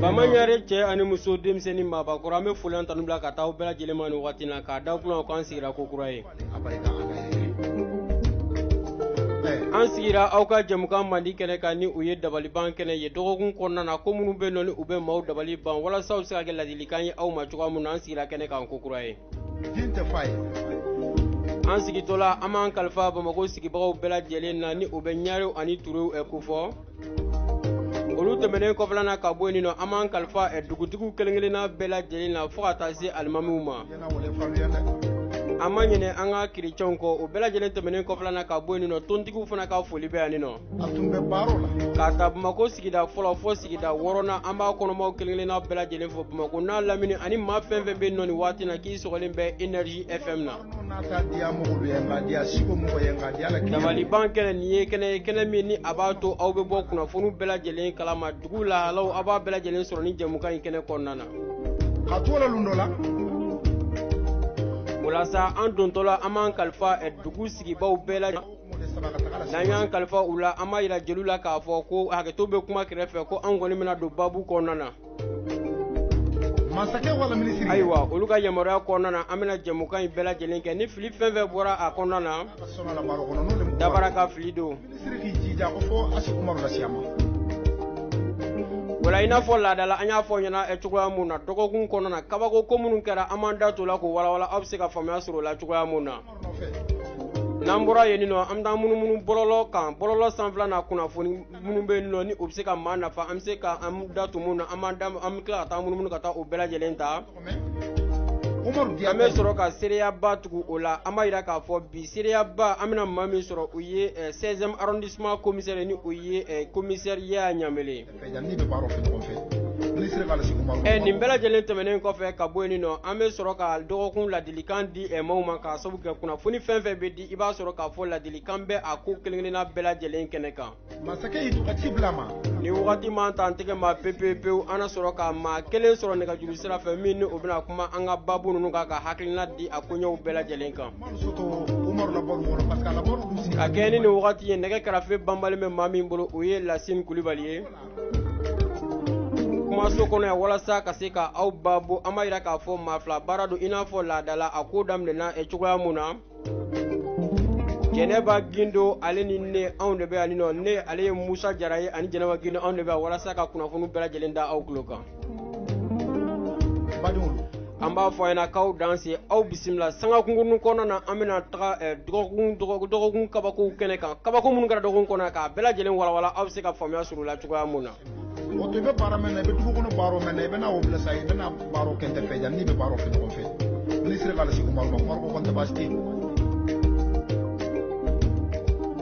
Bama Ɲare cɛ ani muso denmisɛn ni maabakɔrɔ an bɛ foli ani tanu bila ka taa aw bɛɛ lajɛlen ma nin waati na ka da kunna an sigira ko kura ye an sigira aw ka jɛmukan mandi kɛnɛ kan ni o ye dabaliban kɛnɛ ye dɔgɔkun kɔnɔna na ko minnu bɛ nɔ ni u bɛ maaw dabali ban walasa u bɛ se ka kɛ ladilikan ye aw ma cogoya min na an sigira kɛnɛ kan ko kura ye An sigitɔla an b'an kalifa Bamakɔ sigibagaw bɛɛ lajɛlen na ni o bɛ Ɲarew ani Turew kofɔ. Olu tɛmɛnen kɔfɛla na ka bɔ yen nɔ, an b'an kalifa dugutigiw kelen-kelenna bɛɛ lajɛlen na fo ka taa se alimamiw ma. An ma ɲinɛ an ka chrétiens kɔ, o bɛɛ lajɛlen tɛmɛnen kɔfɛla na ka bɔ yen nɔ, tɔntigiw fana ka foli bɛ yan nɔ. k'a ta bamakɔ sigida fɔlɔ fo sigida wɔɔrɔnan an b'a kɔnɔmaw kelenkelenna bɛɛ lajɛlen fo bamakɔ n'a lamini ani maa fɛn fɛn bɛ nɔ nin waati na k'i sɔgɔlen bɛ energie fm na dabaliban kɛnɛ nin ye kɛnɛ ye kɛnɛ min ni a b'a to aw bɛ bɔ kunnafoniw bɛɛ lajɛlen kala ma dugu lahalaw aw b'a bɛɛ lajɛlen sɔrɔ nin jɛmukan in kɛnɛ kɔnɔna na walasa an dontɔla an b'an kalifa dugu sigibaw bɛɛ lajɛlen n'an y'an kalifa u la an b'a jira jeliw la k'a fɔ ko hakɛto bɛ kuma kɛrɛfɛ ko an kɔni bɛna don babu kɔnɔna na ayiwa olu ka yamaruya kɔnɔna na an bɛna jɛmukan in bɛɛ lajɛlen kɛ ni fili fɛn fɛn bɔra a kɔnɔna na dabara ka fili don o la i n'a fɔ laada la an y'a fɔ ɲɛ na eh, cogoya mun na dɔgɔkun kɔnɔna na kabako ko minnu kɛra an b'an da to la k'o walawala aw bɛ se ka faamuya sɔrɔ o la cogoya mun na n'an bɔra yen nɔ an bɛ taa munumunu bɔlɔlɔ kan bɔlɔlɔ sanfɛla na kunnafoni minnu bɛ yen nɔ ni o bɛ se ka maa nafa an bɛ se ka an da to minnu na an b'an da an bɛ tila ka taa munumunu ka taa o bɛɛ lajɛlen ta an bɛ sɔrɔ ka seereyaba tugu o la an b'a jira k'a fɔ bi seereyaba an bɛna maa min sɔrɔ o ye 16 arrondissement commissaire ni o ye commissaire Yaya Ɲanbele Eh, nin bɛɛ lajɛlen tɛmɛnen kɔfɛ ka bɔ yen nɔ an bɛ sɔrɔ ka dɔgɔkun ladilikan di eh, maaw ma k'a sabu kɛ kunnafoni fɛn fɛn bɛ di i b'a sɔrɔ k'a fɔ ladilikan bɛ a ko kelenkelenna bɛɛ lajɛlen kɛnɛ kan ni wagati ma ta an tɛgɛ ma pepewu an na sɔrɔ ka maa kelen sɔrɔ nɛgɛjuru sira fɛ min ni o bɛna kuma an ka baabu ninnu kan ka hakilina di a koɲɔgɔnw bɛɛ lajɛlen kan ka kɛɲɛ ni wagati ye nɛgɛ karafe banbalen bɛ maa min bolo o ye lasin kulubali ye kumaso kɔnɔ yan walasa ka se ka aw babo an b'a jira k'a fɔ maa fila baara don i n'a fɔ laada la a ko daminɛna e cogoya min na jɛnɛba gindo ale ni ne anw de bɛ yan nɔ ne ale ye musa jara ye ani jɛnɛba gindo anw de bɛ yan walasa ka kunnafoni bɛɛ lajɛlen da aw tulo kan an b'a fɔ yan k'aw danse aw bisimila sanga kunkurun kɔnɔna na an bɛna taga eh, dɔgɔkun dɔgɔkun dɔgɔkun kabakow kɛnɛ kan kabako minnu kɛra dɔgɔkun kɔnɔ k'a bɛɛ lajɛlen walawala aw bɛ se ka faamuya sɔrɔ o la cogoya mun na. o to i bɛ baara min na i bɛ dugu kɔnɔ baro min na i bɛna o bila sa i bɛna baro kɛ n de fɛ yan n'i bɛ baro kɛ ɲɔgɔn fɛ n'i sera k'ale sigi kuma ma kuma ko kɔni tɛ baasi tɛ yen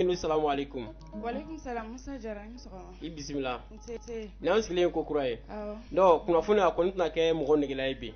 Gindo salamu aleyikum i bisimila ni an sigilen kokura ye kunnafoni a kɔni tɛna kɛ mɔgɔ nɛgɛla ye bi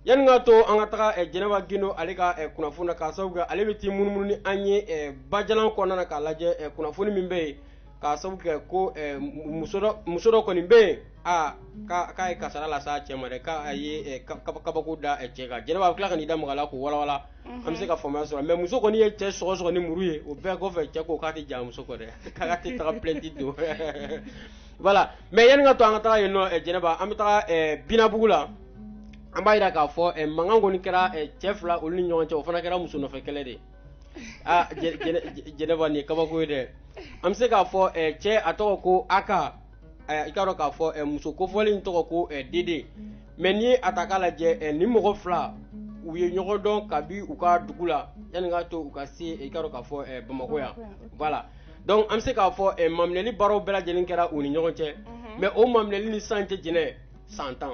yanni k'a to an ka taga jɛnɛba Gindo ale ka kunnafoni k'a sabu kɛ ale bɛ taa munumunu ni an ye bajalan kɔnɔna na k'a lajɛ kunnafoni min bɛ yen k'a sabu kɛ ko eh, muso dɔ muso dɔ kɔni bɛ yen a k'a ye kasaara lase a cɛ ma dɛ k'a ye eh, ka- kaba- kabako da eh, cɛ kan jɛnɛba a bɛ tila ka n'i da maga a la k'o walawala an bɛ se ka faamuya sɔrɔ mais muso kɔni ye cɛ sɔgɔ sɔgɔ ni muru ye o bɛɛ kɔfɛ cɛ ko k'a tɛ jɛn a muso kɔ dɛ k'a tɛ taga plainte don voilà mais yanni k'a to an ka taga yen nɔ eh, jɛnɛba an bɛ taga eh, binabugu la an b'a jira k'a fɔ eh, mankan kɔni kɛra eh, cɛ fila olu ni ɲɔgɔn cɛ o fana kɛra muso nɔfɛ kɛlɛ de ye aa jɛnɛba nin ye kabako ye dɛ an bɛ se k'a fɔ cɛ a tɔgɔ ko Aka i k'a dɔn k'a fɔ muso kofɔlen in tɔgɔ ko Dede mais n'i ye a ta k'a lajɛ nin mɔgɔ fila u ye ɲɔgɔn dɔn kabi u ka dugu la yanni k'a to u ka se i k'a dɔn k'a fɔ bamakɔ yan voilà donc an bɛ se k'a fɔ maminɛli baaraw bɛɛ lajɛlen kɛra u ni ɲɔgɔn cɛ mais o maminɛli nin san tan jɛnɛ san tan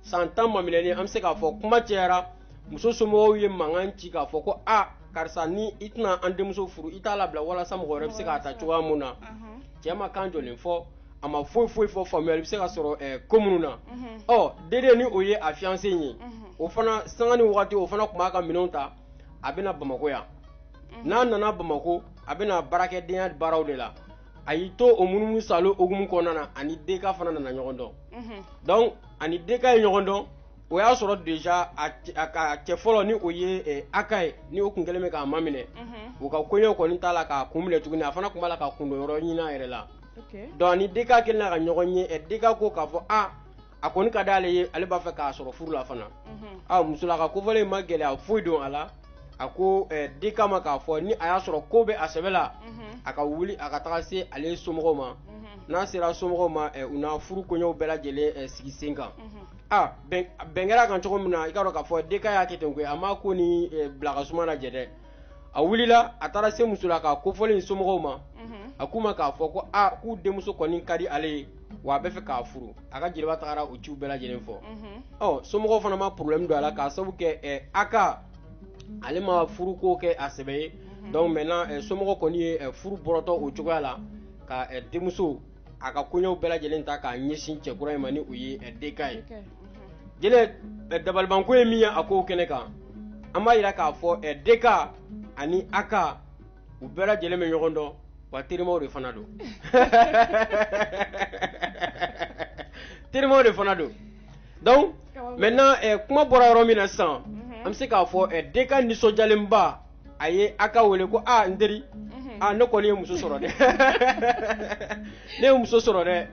san tan maminɛli an bɛ se k'a fɔ kuma cɛyara muso somɔgɔw ye mankan ci k'a fɔ ko a karisa ni i tɛna an denmuso furu i t'a labila walasa mɔgɔ wɛrɛ bɛ se k'a ta cogoya mun na cɛ ma kan jɔnjɔn fɔ a ma foyi foyi fɔ faamuyali bɛ se ka sɔrɔ eh, ko minnu na ɔ Dede ni o ye a fiancé in ye o fana sanga ni wagati o fana tun b'a ka minɛnw ta a bɛna bamakɔ yan n'a nana bamakɔ a bɛna baarakɛdenya baaraw de la a y'i to o munumunu sa o hukumu kɔnɔna na a ni deka fana nana ɲɔgɔn dɔn donc a ni deka ye ɲɔgɔn dɔn o y'a sɔrɔ déjà a cɛ a ka a cɛ fɔlɔ ni o ye ɛ Aka ye ni o tun kɛlen bɛ k'a maminɛ unhun u ka koɲɛw kɔni t'a la k'a kun minɛ tuguni a fana tun b'a la ka kundo yɔrɔ ɲini a yɛrɛ la ok donc a ni DK kɛlen ka ɲɔgɔn ye ɛ DK ko k'a fɔ aa a kɔni ka d'ale ye ale b'a fɛ k'a sɔrɔ furu la fana unhun aa musolaka kofɔlen in ma gɛlɛya foyi don a la a ko ɛ DK ma k'a fɔ ni a y'a sɔrɔ k'o bɛ a sɛbɛ la unhun a ka wuli a ka taga se ale somɔgɔw ma unhun n'a sera somɔgɔw ma ɛ u na furu koɲɛw bɛɛ lajɛlen ɛ sigi sen kan unhun aa bɛn bɛn kɛra a kan cogo min na i k'a dɔn k'a fɔ DK y'a kɛ ten koyi a m'a ko ni eh, bila ka suma lajɛ dɛ a wulila a taara se muso la k'a kofɔlen in somɔgɔw ma Mhm. a k'u ma k'a fɔ ko aa k'u denmuso kɔni ka di ale ye wa a bɛ fɛ k'a furu a ka jeliba tagara o ciw bɛɛ lajɛlen fɔ Mhm. ɔ somɔgɔw fana ma problème don a la k'a sabu kɛ eh, AK ale ma furuko kɛ a sɛbɛ ye donc maintenant eh, somɔgɔ kɔni ye eh, furu bɔrɔtɔ o cogoya la ka eh, denmuso a ka koɲɛw bɛɛ lajɛlen ta k'a ɲɛsin cɛ kura in ma ni o ye eh, DK ye. DK, mhm. Jɛnɛ eh, dabalibanko ye min ye a kow kɛnɛ kan an b'a jira k'a fɔ eh, DK ani AK u bɛɛ lajɛlen bɛ ɲɔgɔn dɔn wa terimaw de fana don. terimaw de fana don donc maintenant eh, kuma bɔra yɔrɔ min na sisan an bɛ se k'a fɔ eh, DK nisɔndiyalenba a ye AK wele ko aa n teri aa ne kɔni ye muso sɔrɔ dɛ ne ye muso sɔrɔ dɛ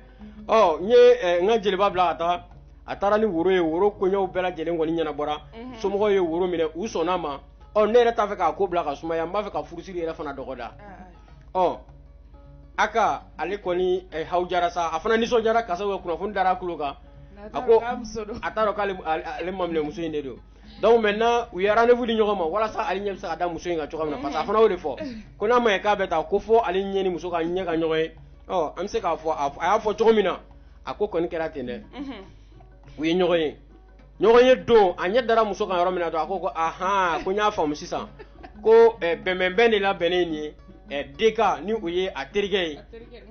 ɔ n ye n ka jeliba bila ka taa a taara ni woro ye woro koɲɛw bɛɛ lajɛlen kɔni ɲɛnabɔra somɔgɔw ye woro minɛ u sɔnna a ma ɔ ne yɛrɛ t'a fɛ k'a ko bila ka sumaya n b'a fɛ ka furusiri yɛrɛ fana dɔgɔda ɔ AK ale kɔni haw jara sa a fana nisɔndiyara kasa kunnafoni dara a tulo kan a ko a t'a dɔn k'ale maminɛmuso in de don donc maintenant u ye rendez-vous di ɲɔgɔn ma walasa ale ɲɛ bɛ se ka da muso in kan cogoya min na parce que a fana y'o de fɔ ko n'a ma ɲɛ k'a bɛ taa ko fo ale ɲɛ ni muso ka ɲɛ ka ɲɔgɔn ye ɔ an bɛ se k'a fɔ a y'a fɔ cogo min na a ko kɔni kɛra ten dɛ u ye ɲɔgɔn ye ɲɔgɔn ye don a ɲɛ dara muso kan yɔrɔ min na dɔrɔn a ko ko ahan ko n y'a faamu sisan ko eh, bɛnbɛnbɛn de labɛnnen nin ye eh, DK ni o ye a terikɛ ye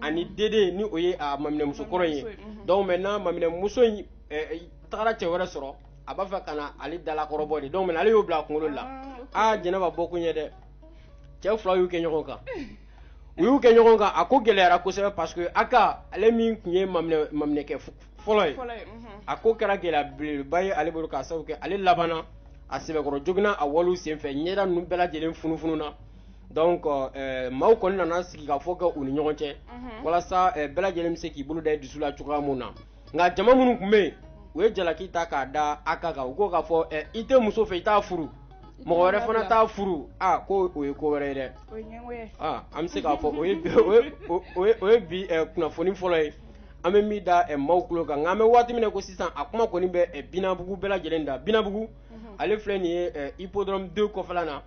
ani DD ni o ye a maminɛmusokɔrɔ ye donc maintenant maminɛmuso in eh, tagara cɛ wɛrɛ sɔrɔ a b'a fɛ ka na ale dalakɔrɔbɔ de donc ale y'o bila a kunkolo la ah, aa jɛnɛba bɔ kun ye dɛ cɛ fila y'u kɛ ɲɔgɔn kan u y'u kɛ ɲɔgɔn kan a ko gɛlɛyara kosɛbɛ parce que AK ale min tun ye maminɛkɛ fɔlɔ ye mhm. a ko kɛra gɛlɛya belebeleba ye ale bolo k'a sababu kɛ ale labanna a sɛbɛkɔrɔ joginna a walew senfɛ ɲɛda ninnu bɛɛ lajɛlen funufununa donc euh, maaw kɔni nana sigikafɔ kɛ u ni ɲɔgɔn cɛ mhm. walasa euh, bɛɛ lajɛlen bɛ se k'i bolo da i dusu la cogoya min na nka jama minnu tun bɛ yen u ye jalaki ta k'a da AK kan u ko k'a fɔ ɛ i tɛ muso fɛ i t'a furu mɔgɔ wɛrɛ fana t'a furu aa ko o ye ko wɛrɛ ye dɛ aa an bɛ se k'a fɔ o ye o ye bi kunnafoni fɔlɔ ye an bɛ min da maaw tulo kan nka an bɛ waati min na ko sisan a kuma kɔni bɛ Binabugu bɛɛ lajɛlen da Binabugu ale filɛ nin ye Hippodrome deux kɔfɛla na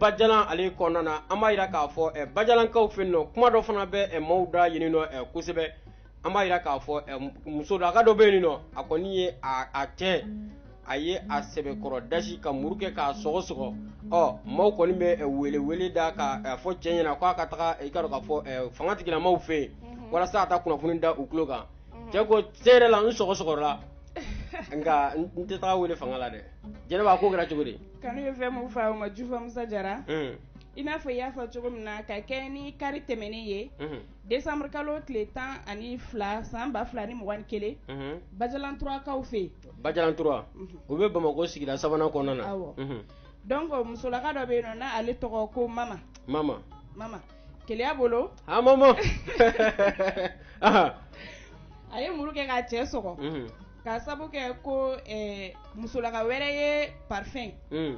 bajalan ale kɔnɔna na an b'a jira k'a fɔ ɛ bajalankaw fɛ yen nɔ kuma dɔ fana bɛ ɛ maaw da yen nɔ ɛ kosɛbɛ an b'a jira k'a fɔ eh, musolaka dɔ bɛ yen nɔ a kɔni ye a cɛ a ye a sɛbɛkɔrɔ dasi ka muru kɛ k'a sɔgɔ sɔgɔ ɔ maaw kɔni bɛ eh, wele wele da ka eh, fɔ cɛ ɲɛna k'a ka taga i ka dɔn k'a fɔ fanga tigilamaw fɛ yen mhm. walasa a ka kunnafoni da u tulo kan mhm. cɛ ko cɛn yɛrɛ la n sɔgɔ sɔgɔra nka n tɛ taga wele fanga la dɛ jɛnɛba ko kɛra cogo di kanu ye fɛn min fa o ma jufa musa jara mm. i n'a fɔ i y'a fɔ cogo min na ka kɛ ni kari tɛmɛnen ye mhm. Décembre kalo tile 12 san 2021 unhun Bajalan Trois kaw fɛ yen Bajalan Trois unhun o bɛ Bamako sigida 3 nan kɔnɔna na awɔ unhun donc musolaka dɔ bɛ yen nɔ n'a ale tɔgɔ ko Mama Mama Mama keleya bolo haa Mama anhan a ye muru kɛ k'a cɛ sɔgɔ unhun K'a sabu kɛ ko ɛɛ musolaka wɛrɛ ye parfum unn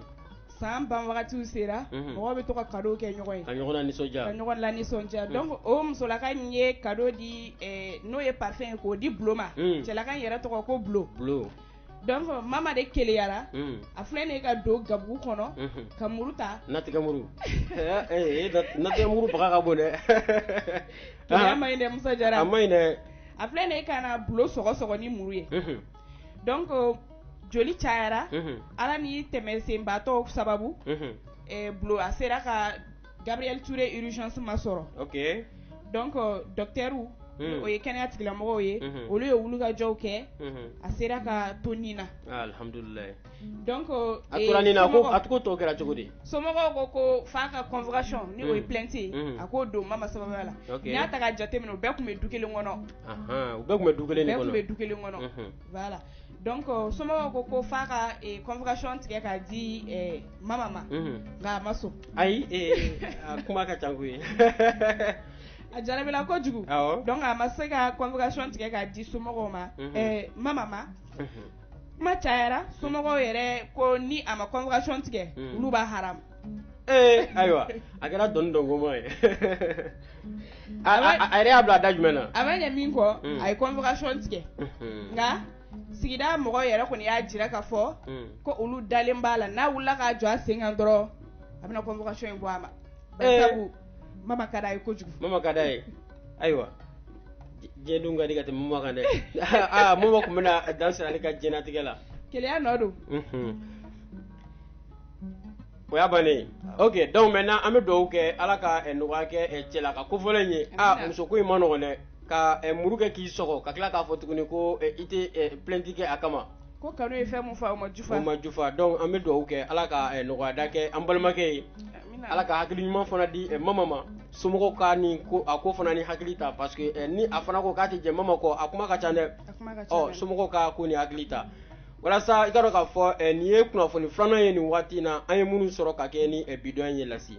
san ban wagatiw sera unhun mɔgɔw bɛ to ka cadeaux kɛ ɲɔgɔn ye ka ɲɔgɔn lanisɔndiya ka ɲɔgɔn lanisɔndiya unhun donc o musolaka in ye cadeau di ɛɛ n'o ye parfum ye k'o di Bulo ma unn cɛlaka in yɛrɛ tɔgɔ ko Bulo Bulo donc Mama de keleyara unn a filɛ nin ye ka don gabugu kɔnɔ unhun ka muru ta natigɛmuru ɛɛ ee nat natigɛmuru baga ka bon dɛ keleya maɲi dɛ Musa Jara a maɲi dɛ a filɛ nin ye ka na Bulo sɔgɔ sɔgɔ ni muru ye, unhun, donc joli cayara, unhun, Ala ni tɛmɛsenbaatɔw sababu, unhun, ɛ Bulo a sera ka Gabriel Toure urgence masɔrɔ, ok, donc docteur n'o ye kɛnɛya tigilamɔgɔw ye, unhun, olu ye wuli ka jɔw kɛ, unhun, a sera ka to ni na, aa alihamudulila Donc a tora nin na ko a ko tɔ kɛra cogo di somɔgɔw ko ko f'a ka convocation ni o ye plainte ye a k'o don mama sababuya la n'i y'a ta k'a jateminɛ u bɛɛ tun bɛ du kelen kɔnɔ u bɛɛ tun bɛ du kelen de kɔnɔ u bɛɛ tun bɛ du kelen kɔnɔ voilà donc somɔgɔw ko ko f'a ka convocation tigɛ k'a di mama ma nka a ma sɔn ayi a kuma ka ca koyi a jarabira kojugu donc a ma se ka convocation tigɛ k'a di somɔgɔw ma mama ma kuma cayara somɔgɔw yɛrɛ ko ni a ma convocation tigɛ hmm. olu b'a haram ee ayiwa a kɛra dɔnni dɔngoma ye a yɛrɛ y'a bila a da jumɛn na a ma ɲɛ min kɔ hmm. a ye convocation tigɛ hmm. nka sigida mɔgɔw yɛrɛ kɔni y'a jira k'a fɔ ko olu dalen b'a la n'a wulila k'a jɔ a sen kan dɔrɔn a bɛna convocation in bɔ a ma eh. mama ka d'a ye kojugu mama ka d'a ye ayiwa diɲɛ dun ka di ka tɛmɛ mama kan dɛ aa mama tun bɛna dan siri ale ka diɲɛnatigɛ la keleya nɔ don o y'a bannen ye ok donc maintenant an bɛ dugawu kɛ ala ka eh, nɔgɔya kɛ eh, cɛlaka kofɔlen in ye a musoko in man nɔgɔn dɛ ka eh, muru kɛ k'i sɔgɔ ka tila k'a fɔ tuguni ko i tɛ plainte kɛ a kama Ko kanu ye fɛn min fɔ o ma jufa, o ma jufa donc an bɛ dugawu kɛ Ala ka nɔgɔyada kɛ an balimakɛ ye, amina, Ala ka hakili ɲuman fana di Maman ma somɔgɔw ka nin ko a ko fana ni hakili ta parce que ni a fana ko k'a tɛ jɛ Maman kɔ a kuma ka ca dɛ, a kuma ka ca, o somɔgɔw ka ko ni hakili ta walasa i ka dɔn k'a fɔ nin ye kunnafoni filanan ye nin waati in na an ye minnu sɔrɔ ka kɛ ni bi don ye Lasi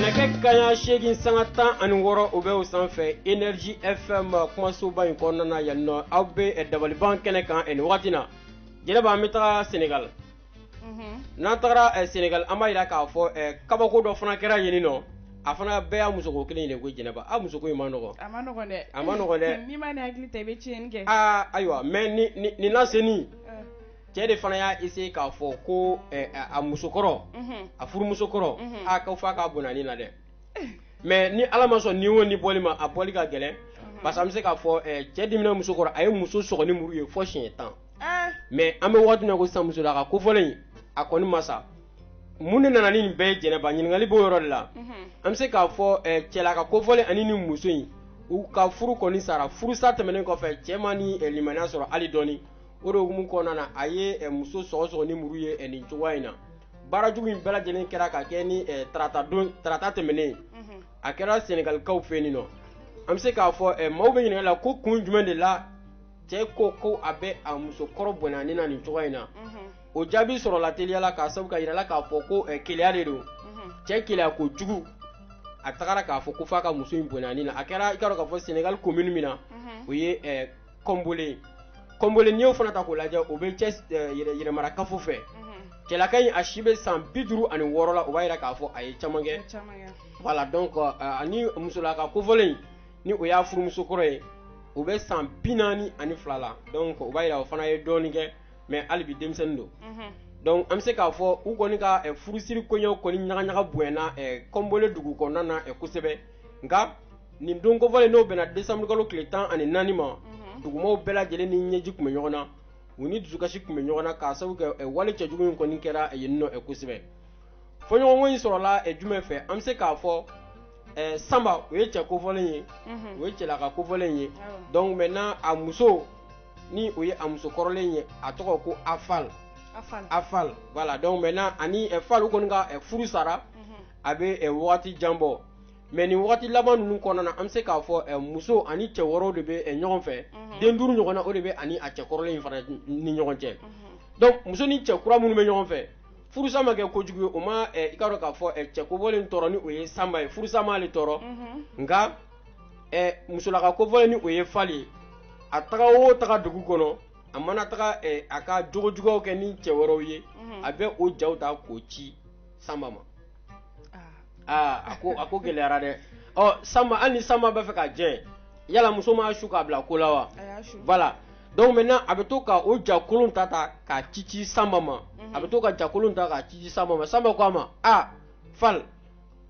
nɛgɛ kanɲɛ seegin sanga tan ani wɔɔrɔ o bɛ o sanfɛ énergie fm kumasoba in kɔnɔna na yan nɔ aw bɛ eh, dabaliban kɛnɛ kan eh, nin wagati na jɛnɛba an bɛ taga senegal mhm. n'an tagara eh, senegal an b'a jira k'a fɔ kabako dɔ fana kɛra yen nɔ a fana bɛɛ y'a musoko kelen de ko jɛnɛba a musoko in man nɔgɔ a man nɔgɔ dɛ a man nɔgɔ dɛ n'i ma ni hakili ta i bɛ tiɲɛni kɛ aa ayiwa mais nin lasenni cɛ de fana y'a essayé k'a fɔ ko eh, a muso kɔrɔ mhm. a furumuso kɔrɔ mhm. a k'a faa k'a bɔnɛ a ni na dɛ mais ni ala ma sɔn ni wo ni bɔli ma a bɔli ka gɛlɛn mhm. parce que an bɛ se k'a fɔ eh, cɛ dimina muso kɔrɔ a ye muso sɔgɔ ni muru ye fɔ siɲɛ tan eh. mais an bɛ waati min na ko sisan musolaka kofɔlen a kɔni ma sa mun de nana ni nin bɛɛ ye jɛnɛba ɲininkali b'o yɔrɔ de la an bɛ se k'a fɔ eh, cɛlaka kofɔlen ani ni muso in u ka furu kɔni sara furusa tɛmɛnen kɔfɛ cɛ ma ni eh, limaniya sɔrɔ hali dɔɔni o de hukumu kɔnɔna na a ye eh, muso sɔgɔsɔgɔ ni muru ye nin cogoya in na baara jugu in bɛɛ lajɛlen kɛra ka kɛ ni tarata don tarata tɛmɛnen a kɛra sɛnɛgalikaw fɛ yen nɔ an bɛ se k'a fɔ maaw bɛ ɲininkali la ko kun jumɛn de la cɛ ko ko a bɛ a muso kɔrɔ bɔnɛ a ni na nin cogoya in na o jaabi sɔrɔla teliyala k'a sabu kɛ a jirala k'a fɔ ko eh, keleya de don mhm. cɛ keleya ko jugu a tagara k'a fɔ ko f'a ka muso in bɔnɛ a ni na a kɛra i k'a dɔn k'a fɔ senegal commune min na mhm. o ye eh, kɔnbole kɔnbole n'i y'o fana ta k'o lajɛ o bɛ thiès eh, yɛrɛmara kafo fɛ mhm. cɛlaka in a si bɛ san bi duuru ani wɔɔrɔ la o b'a jira k'a fɔ a ye caman kɛ voilà donc ani musolaka kofɔlen in ni o y'a furumuso kɔrɔ ye o bɛ san bi naani ani fila la donc o b'a jira o fana ye dɔɔnin kɛ mais hali bi denmisɛnnin don donc an bɛ se k'a fɔ u kɔni ka furusiri kɔɲɔw kɔni ɲaga bonyana kɔnbole dugu kɔnɔna na kosɛbɛ nka nin don kofɔlen n'o bɛnna décembre kalo tile tan ani naani ma dugumaaw bɛɛ lajɛlen ni ɲɛji tun bɛ ɲɔgɔn na u ni dusukasi tun bɛ ɲɔgɔn na k'a sababu kɛ wale cɛjugu in kɔni kɛra yen nɔ kosɛbɛ fɔɲɔgɔnkɔ in sɔrɔla jumɛn fɛ an bɛ se k'a fɔ sanba o ye cɛ kofɔlen ye o ye cɛlaka kofɔlen ye donc maintenant a muso ni o ye a muso kɔrɔlen ye a tɔgɔ ko a fal a fal voilà donc maintenant a ni fal u kɔni ka furu sara mhm. a bɛ waati jan bɔ mais nin waati laban ninnu kɔnɔna an bɛ se k'a fɔ muso ani cɛ wɛrɛ de bɛ ɲɔgɔn fɛ mhm. den duuru ɲɔgɔn na o de bɛ a ni a cɛ kɔrɔlen in fana ni ɲɔgɔn cɛ mhm. muso ni cɛ kura minnu bɛ ɲɔgɔn fɛ furusa ma kɛ kojugu ye o ma i k'a dɔn k'a fɔ cɛ kofɔlen tɔɔrɔ ni o ye sanba ye furusa ma ale tɔɔrɔ nka ɛ musolaka kofɔlen ni o ye fali ye a taga o taga dugu kɔnɔ a mana taga ɛ a ka jogojuguyaw kɛ ni cɛ wɛrɛw ye mhm. a bɛ o jaw ta k'o ci sanba ma aa ah. ah, a ko a ko gɛlɛyara dɛ ɔ sanba hali ni sanba bɛ fɛ ka jɛ yala muso m'a su k'a bila ko la wa voilà donc maintenant a bɛ to ka o jakolon ta ta k'a ci ci sanba ma mhm. a bɛ to ka jakolon ta k'a ci ci sanba ma sanba ko a ma a ah, fal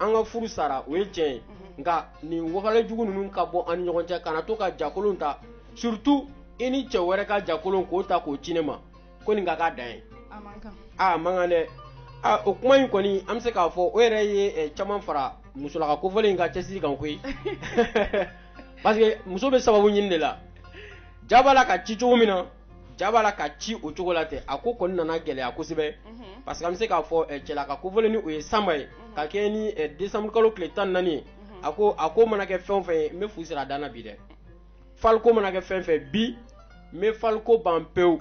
an ka furu sara o ye tiɲɛ ye nka nin wale jugu ninnu ka bɔ an ɲɔgɔn cɛ kana to ka jakolon ta surtout i ni cɛ wɛrɛ ka jakolon k'o ta k'o ci ne ma ko nin ka ka dan yen a man kan dɛ o kuma in kɔni an bɛ se k'a fɔ o yɛrɛ ye caman fara musolaka kofɔlen in ka cɛsiri kan koyi parce que muso bɛ sababu ɲini de la ja b'a la ka ci cogo min na ja b'a la ka ci o cogo la ten a ko kɔni nana gɛlɛya kosɛbɛ mhm. parce que an bɛ se k'a fɔ eh, cɛlaka kofɔlen ni o ye sanba ye mhm. ka kɛɲɛ ni eh, décembre kalo tile tan ni naani ye mhm. a ko a ko mana kɛ fɛn o fɛn ye n bɛ fu siri a dan na bi dɛ fali ko mana kɛ fɛn fɛn bi n bɛ fali ko ban pewu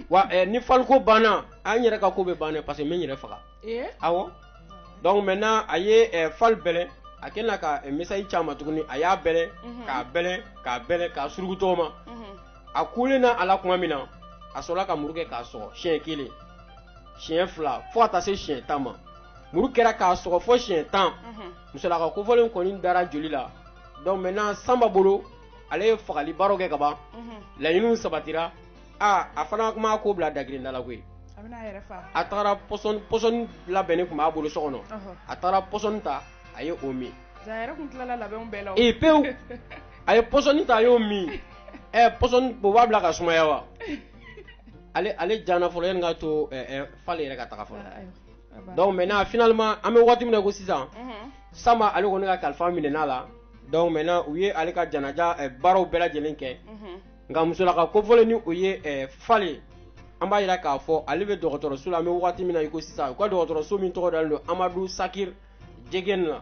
wa eh, ni fali ko banna an yɛrɛ ka ko bɛ ban dɛ parce que n bɛ n yɛrɛ faga awɔ donc maintenant a ye fal bɛlɛn a kɛlen ka message ci a ma tuguni a y'a bɛlɛn k'a bɛlɛn k'a bɛlɛn k'a suruku tɔgɔ ma. a kulen na a la tuma min na a sɔrɔla ka muru kɛ k'a sɔgɔ siɲɛ kelen siɲɛ fila fo ka taa se siɲɛ tan ma muru kɛra k'a sɔgɔ fo siɲɛ tan mhm. musolaka kofɔlen kɔni dara joli la donc maintenant sanba bolo ale ye fagali baaraw kɛ ka ban mhm. laɲiniw sabatira a a fana tun ma ko bila dagirinda la koyi a taara pɔsɔni pɔsɔni labɛnnen tun b'a bolo so kɔnɔ a taara pɔsɔni ta a ye o min ee pewu a ye pɔsɔni ta a y'o min ɛ pɔsɔni o b'a bila ka sumaya wa ale ale jana fɔlɔ yanni ka to fale yɛrɛ ka taga fɔlɔ donc maintenant finalement an bɛ waati min na i ko sisan Sanba ale kɔni ka kalifa minɛn'a la donc maintenant u ye ale ka janaja baaraw bɛɛ lajɛlen kɛ nka musolaka kofɔlen ni o ye fale an b'a jira k'a fɔ ale bɛ dɔgɔtɔrɔso la an bɛ waati min na i ko sisan u ka dɔgɔtɔrɔso min tɔgɔ dalen don Amadu Sakiri jɛgɛni na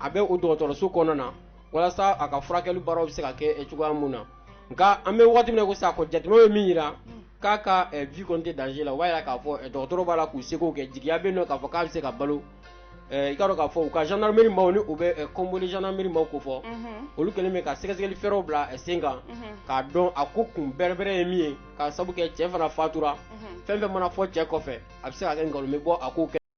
a bɛ o dɔgɔtɔrɔso kɔnɔna na walasa a ka furakɛli baaraw bɛ se ka kɛ eh, cogoya min na nka an bɛ waati min na ko sisan ko jateminɛw ye min jira k'a ka eh, vie kɔni tɛ danger la o b'a jira k'a fɔ eh, dɔgɔtɔrɔ b'a la k'u seko kɛ jigiya bɛ yen nɔ k'a fɔ k'a bɛ se ka balo Eh, i k'a dɔn k'a fɔ u ka gendarmerie maaw ni u bɛ eh, kɔnbole gendarmerie maaw kofɔ olu kɛlen bɛ ka sɛgɛsɛgɛli fɛɛrɛw bila eh, sen kan k'a dɔn a ko kun bɛrɛbɛrɛ ye min ye k'a sabu kɛ cɛ fana fatura fɛn fɛn mana fɔ cɛ kɔfɛ a bɛ se ka kɛ nkalon bɛ bɔ a ko kɛ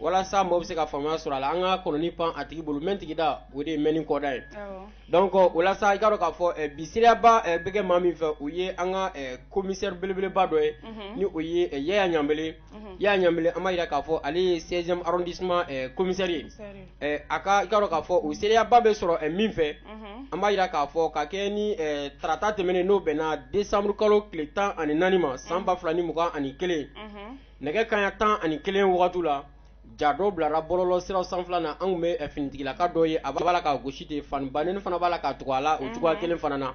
walasa mɔgɔ bɛ se ka faamuya sɔrɔ a la an ka kɔnɔnin pan a tigi bolo mɛn tigi da o de ye mɛnni kɔdan ye donc walasa i k'a dɔn k'a fɔ bi seereyaba bɛ kɛ maa min fɛ o ye an ka commissaire belebeleba dɔ ye ni o ye Yaya Ɲanbele Yaya Ɲanbele an b'a jira k'a fɔ ale ye seizième arrondissement commissaire ye A ka i k'a dɔn k'a fɔ o seereyaba bɛ sɔrɔ min fɛ an b'a jira k'a fɔ ka kɛ ni tarata tɛmɛnen n'o bɛnna desanburu kalo tile tan ani naani ma san ba fila ni mugan ani kelen nɛgɛ kanɲɛ tan ani kelen wagati la ja dɔ bilara bɔlɔlɔ sira sanfɛla na an tun bɛ finitigilaka dɔ ye a b'a la ka gosi de fan ba ni fana b'a la ka tugu a la o cogoya kelen fana na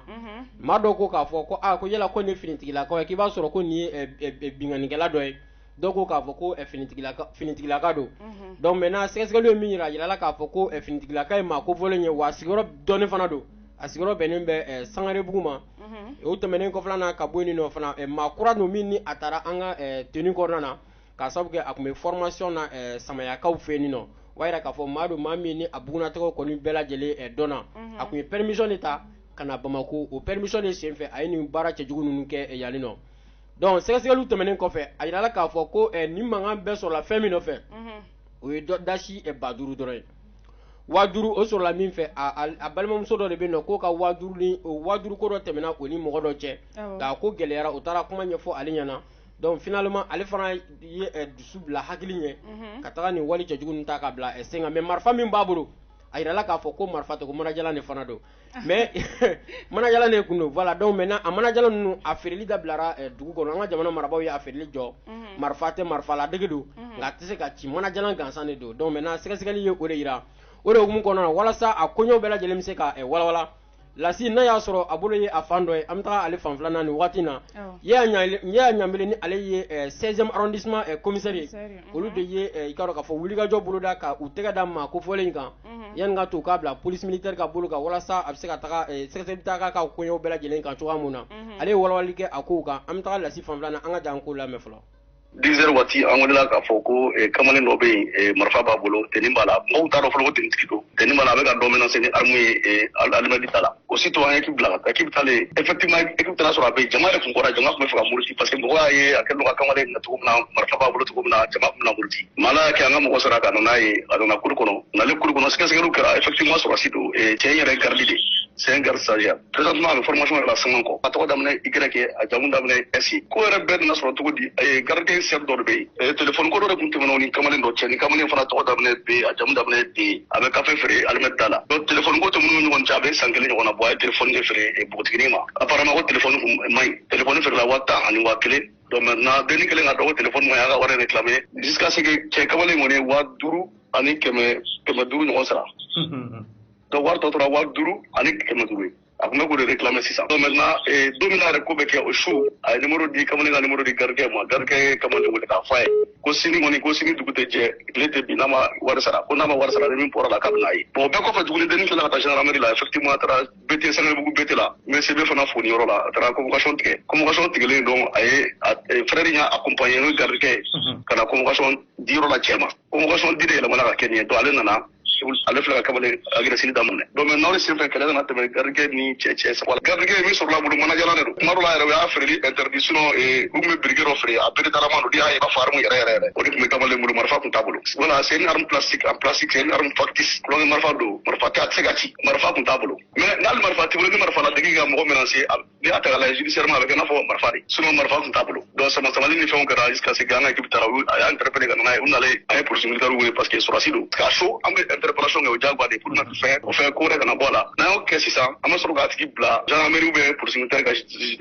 maa dɔw ko k'a fɔ ko ko yala ko ni finitigilaka k'i b'a sɔrɔ ko nin ye binkannikɛla dɔ ye dɔw ko k'a fɔ ko eh, finitigilaka finitigilaka don mhm. donc maintenant sɛgɛsɛgɛliw ye min yira a yirala k'a fɔ ko eh, finitigilaka ye maa kofɔlen ye wa a sigiyɔrɔ dɔnnen fana don a sigiyɔrɔ bɛnnen bɛ eh, sangarebugu ma mhm. o tɛmɛnen kɔfɛla na ka bɔ yen nɔ fana maa kura don min ni a taara an ka tenue kɔnɔna na k'a sababu kɛ a tun bɛ formation na samayakaw fɛ yen nɔ o b'a yira k'a fɔ maa don maa min ni a bugunatɔgɔ kɔni bɛɛ lajɛlen dɔnna mhm. a tun ye permission de ta ka na Bamako o permission de senfɛ a ye nin baara cɛjugu ninnu kɛ yanni nɔ donc sɛgɛsɛgɛli tɛmɛnen kɔfɛ a jirala k'a fɔ ko eh, ni mankan bɛɛ sɔrɔla fɛn min nɔfɛ mhm. o ye dasi eh, ba duuru dɔrɔn ye waa duuru o sɔrɔla min fɛ a balimamuso dɔ de bɛ k'o ka waa duuru waa duuru ko dɔ tɛmɛna o ni mɔgɔ dɔ cɛ nka ko gɛlɛyara u taara kuma ɲɛfɔ ale ɲɛna donc finalement ale fana ye eh, dusu bila hakili ɲɛ mhm. ka taga nin wali cɛjugu ta ka bila sen kan mais marifa min b'a bolo a jirala k'a fɔ ko marifa tɛ ko manajalan de fana don mais manajalan de tun don voilà donc maintenant a manajalan ninnu a feereli dabilara eh, dugu kɔnɔ an ka jamana marabaaw ye a feereli jɔ mhm. marifa tɛ marifalaadege don mhm. nka a tɛ se ka ci manajalan gansan de don donc maintenant sɛgɛsɛgɛli ye o de yira o de hukumu kɔnɔna na walasa a koɲɛw bɛɛ lajɛlen bɛ se ka eh, walawala lasi n'a y'a sɔrɔ a bolo ye a fan dɔ ye an bɛ taga ale fan filanan nin waati na yaya ɲanbele ni ale ye 16e eh, arrondissement commissaire ye olu de ye i k'a dɔn k'a fɔ wulikajɔ boloda ka u tɛgɛ da maa kofɔlen in kan yanni ka to k'a bila police militaire ka bolo kan walasa a bɛ se ka sɛgɛ ta ka kow bɛɛ lajɛlen kan cogoya min na ale walawalali kɛ a ko kan an bɛ taa lasi fan filanan an ka jɛ k'o lamɛn fɔlɔ dix heures waati an welela k'a fɔ ko kamalen dɔ bɛ yen marifa b'a bolo tenue b'a la mɔgɔw t'a dɔn fɔlɔ ko tenuetigi don tenue b'a la a bɛ ka dɔ menacer ni arme ye alimɛti da la aussitôt an ye équipe bila ka taa équipe taalen effectivement équipe e taara sɔrɔ a bɛ jama yɛrɛ kun kɔrɔ jama tun bɛ fɛ ka muruti parce que mɔgɔ y'a ye a kɛlen don ka kamalen minɛ cogo min na marifa b'a bolo cogo min na jama tun bɛna muruti mais Ala y'a kɛ an ka mɔgɔw sera ka na n'a ye a nana cour kɔnɔ nalen cour kɔnɔ sɛgɛsɛgɛliw kɛra effectivement sɔrɔdasi don cɛ in yɛrɛ garde de c'est un garde stagiaire présentement a bɛ formation yɛrɛ la sɛŋɛn kɔ a tɔgɔ daminɛ y a jamu daminɛ s ko yɛrɛ bɛɛ nana sɔrɔ cogo di garde sœur dɔ de bɛ yen telefɔni ko dɔ de tun tɛmɛna ni kamalen dɔ cɛ ni kamalen fana tɔgɔ daminɛ b a jamu daminɛ d a bɛ kafe feere alimɛti da la donc telefɔni ko tɛmɛna u ni ɲɔgɔn cɛ a bɛ san kelen ɲɔgɔnna bɔ a ye telefɔni de feere eh, npogotiginin ma apparemment ko telefɔni kun eh, man ɲi telefɔni feerela waa tan ani waa kelen donc maintenant dennin kɛlen k'a dɔn ko telefɔni man ɲi a y'a ka wari réclamer jusqu'à ce que cɛ kamalen kɔni ye waa duuru ani kɛmɛ kɛmɛ duuru ɲɔgɔn sara donc wari tɔ tora waa duuru ani kɛmɛ duuru ye a tun bɛ k'o de réclamer sisan donc maintenant eh, don min na yɛrɛ ko bɛ kɛ o su a ye numéro di kamalen ka numéro di gardekɛ ma gardekɛ ye kamalen wele k'a fɔ a ye ko sini kɔni ko sini dugu tɛ jɛ tile tɛ bin n'a ma wari sara ko n'a ma wari sara ni min bɔra a la k'a bɛn'a ye bon o bɛɛ kɔfɛ tuguni dennin tilala ka taa gendarmerie la effectivement a taara BT Sangarebugu BT la n bɛ CB fana fo nin yɔrɔ la a taara convocation tigɛ convocation tigɛlen donc a ye a eh, frère in y'a accompagner n'o ye gardekɛ ye ka na convocation di yɔrɔ la cɛ ma convocation di de yɛlɛmana ka kɛ nin ye donc ale nana ale fila ka kamalen agression daminɛ donc maintenant o de senfɛ kɛlɛ nana tɛmɛ gardekɛ ni cɛ cɛ sabula gardekɛ min sɔrɔla a bolo mana jalan de don tuma dɔ la yɛrɛ u y'a feereli interdit sinon eh, u tun bɛ briquet dɔ feere a Berettalama don n'i y'a ye i b'a fɔ arme yɛrɛ yɛrɛ yɛrɛ o de tun bɛ kamalen bolo marifa tun t'a bolo voilà c'est une arme plastique en plastique c'est une arme factice tulonkɛ marifa don marifa tɛ a tɛ se ka ci marifa tun t'a bolo nka hali marifa t'i bolo ni marifa ladegi ka mɔgɔ menacer a n'i y'a ta k'a lajɛ judiciairement a bɛ kɛ i n'a fɔ marifa de sinon marifa tun t'a bolo donc sama samali ni fɛnw kɛra jusqu'à ce que an ka équipe taara a y'a interpellé ka na n'a ye u nalen an ye police militaire wele parce que sɔrɔdasi don k'a so an bɛ interpellation kɛ o diyagoya de pour éviter fɛn o fɛn ko wɛrɛ kana bɔ a la n'an y'o kɛ sisan an bɛ sɔrɔ k'a tigi bila gendarmerie ou bien police militaire ka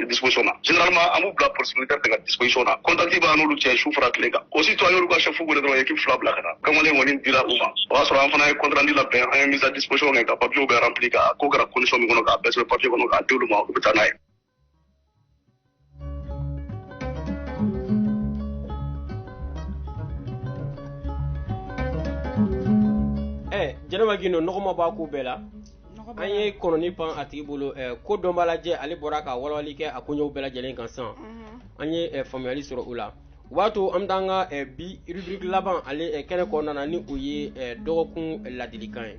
disposition na généralement an b'u bila police militaire de ka disposition na contact b'an n'olu cɛ su fara tile kan aussitôt an y'olu ka chef wele dɔrɔn équipe fila bila ka na kamalen kɔni dira u ma o y'a sɔrɔ an fana ye compte rendu labɛn an ye mise à disposition kɛ ka papiyew bɛɛ remplir ka ko kɛra condition min kɔnɔ k'a bɛɛ sɛbɛn papiye kɔnɔ k'a di olu ma u bɛ taa n'a ye jɛnɛba gindo nɔgɔma b'a ko bɛɛ la an ye kɔnɔnin pan a tigi bolo kodɔnbaa Laji ale bɔra ka walawali kɛ a koɲɛw bɛɛ lajɛlen kan sa an ye faamuyali sɔrɔ u la o b'a to an bɛ taa an ka eh, bi rubrique laban ale eh, kɛnɛ kɔnɔna na ni o ye eh, dɔgɔkun ladilikan ye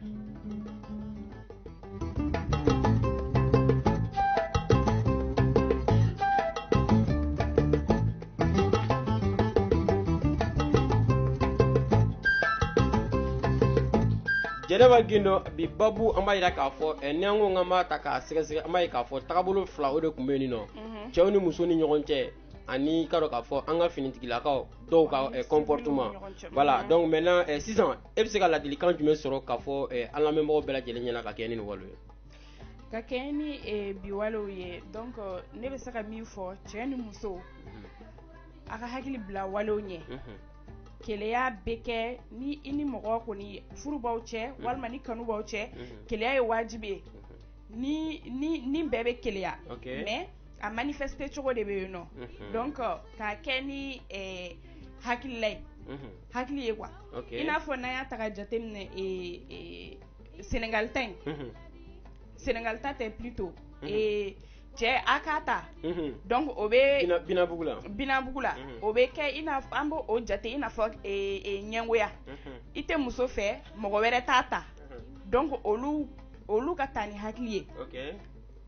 jɛnɛba gindo bi babu an b'a yira k'a fɔ eh, ni an ko k'an b'a ta k'a sɛgɛsɛgɛ an b'a ye k'a fɔ tagabolo fila o de tun bɛ yen nɔ mhm. cɛ ni muso ni ɲɔgɔn cɛ ani i k'a dɔn k'a fɔ an ka finitigilakaw dɔw ka eh, comportement voilà donc maintenant eh, sisan e bɛ se ka ladilikan jumɛn sɔrɔ k'a fɔ eh, an lamɛnbagaw bɛɛ lajɛlen ɲɛna ka kɛɲɛ ni nin walew ye ka kɛɲɛ ni eh, bi walew ye donc euh, ne bɛ se ka min fɔ cɛ ni muso mhm. a ka hakili bila walew ɲɛ mhm. keleya bɛ kɛ ni i ni mɔgɔ kɔni furu b'aw cɛ mhm. walima ni kanu b'aw cɛ keleya ye wajibi ye ni ni ni bɛɛ bɛ keleya okay. mais a manifester cogo de bɛ yen nɔ mm -hmm. donc euh, k'a kɛ ni eh, hakilila ye mm -hmm. hakili ye quoi okay. i n'a fɔ n'an y'a ta ka jateminɛ eh, eh, Sénégal ta in mm -hmm. Sénégal ta tɛ plutôt mm -hmm. eh, cɛ a k'a ta mhm. donc o bɛ binabugu la binabugu la mhm. o bɛ kɛ i n'a an b'o o jate i n'a fɔ e, e, ɲɛngoya mhm. i tɛ muso fɛ mɔgɔ wɛrɛ t'a ta donc olu olu ka taa ni hakili ye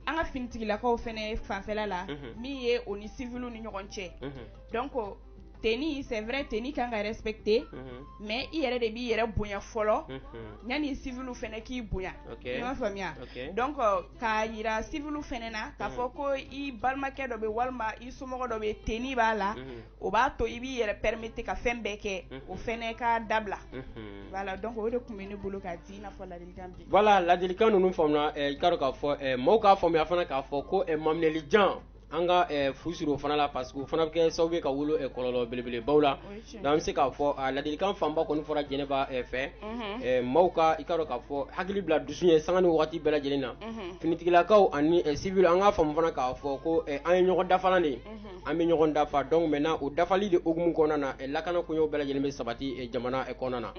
an ka finitigilakaw fana fanfɛla la min ye u ni civil ni ɲɔgɔn cɛ donc tenue c'est vrai tenue kan ka respecté mais i yɛrɛ de b'i yɛrɛ bonya fɔlɔ yanni civil fana k'i bonya i m'a faamuya donc k'a jira civil fana na k'a fɔ ko i balimakɛ dɔ bɛ walima i somɔgɔ dɔ bɛ tenue b'a la o b'a to i b'i yɛrɛ permettre ka fɛn bɛɛ kɛ o fana ka dabila voilà donc o de tun bɛ ne bolo ka di i n'a fɔ ladilikan min voilà ladilikan ninnu faamuna i k'a dɔn k'a fɔ mɔgɔw k'a faamuya fana k'a fɔ ko maminɛli jan an ka fu siri o fana la parce que o fana bɛ kɛ sababu ye ka wolo kɔlɔlɔ belebelebaw la donc an bɛ se k'a fɔ a ladilikan fanba kɔni fɔra Jɛnɛba fɛ mɔgɔw ka i k'a dɔn k'a fɔ hakili bila dusu ɲɛ sanga ni waati bɛɛ lajɛlen na finitigilakaw ani civil an k'a faamu fana k'a fɔ ko an ye ɲɔgɔn dafalan de ye. an bɛ ɲɔgɔn dafa donc maintenant o dafali de hukumu kɔnɔna na lakanako in o bɛɛ lajɛlen bɛ sabati jamana kɔnɔna na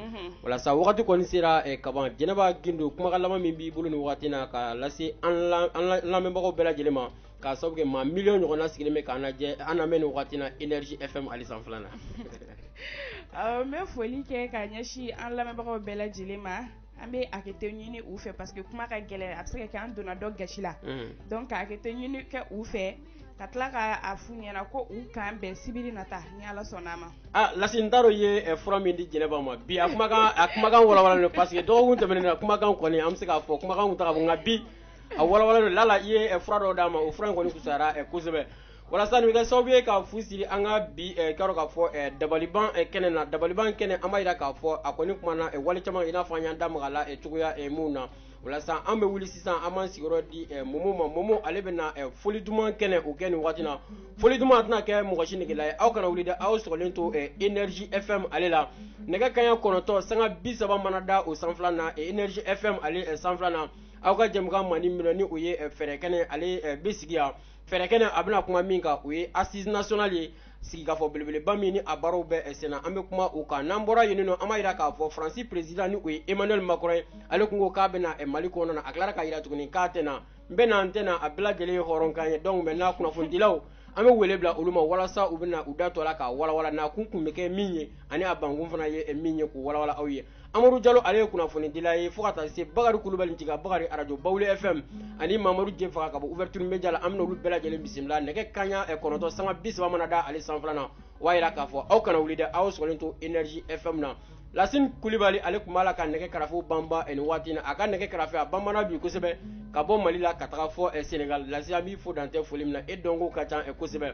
o la sa waati kɔni sera ka ban jɛnɛba gindo kumakan laban min b'i bolo nin waati na ka lase an lamɛnbagaw bɛɛ lajɛlen ma ka sababu kɛ maa miliyɔn ɲɔgɔnna sigilen bɛ k'an lajɛ an lamɛn nin waati na energie fm ale sanfɛla na n bɛ foli kɛ ka ɲɛsin an lamɛnbagaw bɛɛ lajɛlen ma an bɛ hakɛto ɲini u fɛ parce que kuma ka gɛlɛn a bɛ se ka kɛ an donna dɔ gasi la donc ka hakɛto ɲini kɛ u fɛ ka tila k'a f'u ɲɛna ko u k'an bɛn sibiri nata ni Ala sɔnna a ma. Ah Lasi n t'a dɔn i ye fura min di Jɛnɛba ma bi a kumakan a kumakan walawalalen don parce que dɔgɔkun tɛmɛnen na kumakan kɔni an bɛ se k'a fɔ kumakan tun tɛ ka bɔ nka bi a walawalalen don lala i ye fura dɔ d'a ma o fura in kɔni fisayara kosɛbɛ. o la sa nin bɛ kɛ sababu ye ka fu siri an ka bi eh, k'a dɔn k'a fɔ eh, dabaliban eh, kɛnɛ na dabaliban kɛnɛ an b'a jira k'a fɔ a kɔni kumana wale caman kan i n'a fɔ an y'an da maga la cogoya minnu na o la sa an bɛ wuli sisan an b'an sigiyɔrɔ di eh, momo ma momo ale bɛ na eh, foli duman kɛnɛ o kɛ nin waati na foli duman tɛna kɛ mɔgɔ si negela ye aw kana wuli dɛ aw sɔgɔlen to eh, energie fm ale la nɛgɛ kaɲa kɔnɔntɔn sanga bi saba mana da o sanfɛla na eh, energie fm ale eh, sanfɛla na aw ka jɛmukan mandi min ni o ye eh, fɛɛrɛ kɛnɛ ale eh, bɛ sigi yan Fɛɛrɛkɛnɛ a bɛna kuma min kan o ye assises nationales ye sigikafɔ belebeleba min ye ni a baaraw bɛ sen na an bɛ kuma o kan n'an bɔra yen don an b'a jira k'a fɔ fransi président ni o ye Emmanuel Macron ye ale tun ko k'a bɛ na mali kɔnɔna na a tilala k'a jira tuguni k'a tɛ na n bɛ na n tɛ na a bɛɛ lajɛlen ye hɔrɔnkan ye donc maintenant kunnafonidilaw an bɛ wele bila olu ma walasa u bɛna u da don a la k'a walawala nakun tun bɛ kɛ min ye ani a bankun fana ye min ye k'o walawala aw ye amadu jalo ale ye kunnafonidila ye fo ka taa se bakari kulibali jiga bakari arajo bawule fm ani mamadu jefaga ka bɔ ouverture media la an bɛna olu bɛɛ lajɛlen bisimila nɛgɛ kaɲa eh, kɔnɔntɔn sanga bi saba mana da ale sanfɛla na o y'a yira k'a fɔ aw kana wuli dɛ aw sɔgɔlen to energie fm na lasin kulibali ale tun b'a la ka nɛgɛ karafe banba eh, nin waati na a ka nɛgɛ karafe a banbana bi kosɛbɛ ka bɔ mali la ka taga fo eh, senegal lasi an b'i fo dan tɛ foli min na e dɔnkow ka ca kosɛbɛ